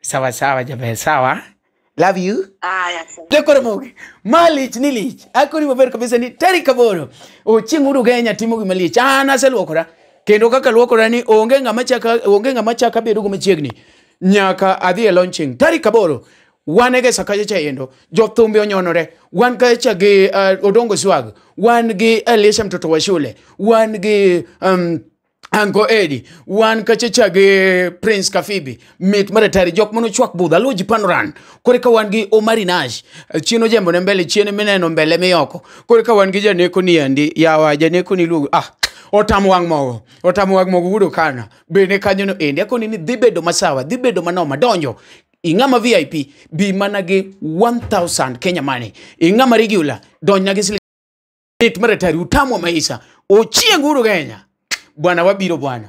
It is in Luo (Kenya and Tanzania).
sawa sawa jaber sawa love you Aya, sawa. Dekore mogi. Malich ni lich. Akori maber kabisa ni tarik aboro. Ochieng' uru Kenya timo gima lich. An aseluokora. Kendo kaka luokora ni onge ng'ama chaka onge ng'ama chaka bedo go machiegni. Nyaka adhi e launching tarik aboro. Wan e gesa kacha chayendo. Jothumbe onyonore. Wan kacha gi uh, Odongo Swag. Wan gi Elisha mtoto wa shule. Wan gi um, Anko Edi, wan kachacha gi Prince Kafibi, mit maratari, jok mano chwak budha, luo ji panoran. Kore ka wan gi Omari Nash, chino jembo ne mbele, chino mineno mbele miyoko. Kore ka wan gi janeko ni endi, yawa janeko ni luo, ah, otam wang' mogo, otam wang' mogo wudo kana, bende kanyo no endi, akoni ni dhi bedo masawa, dhi bedo manoma, donjo, ing'ama VIP, bi mana gi 1000 Kenya money, ing'ama regular, donj na gi siling' Lit maratari utamu wa maisha. Ochieng uru Kenya. Bwana wabiro bwana.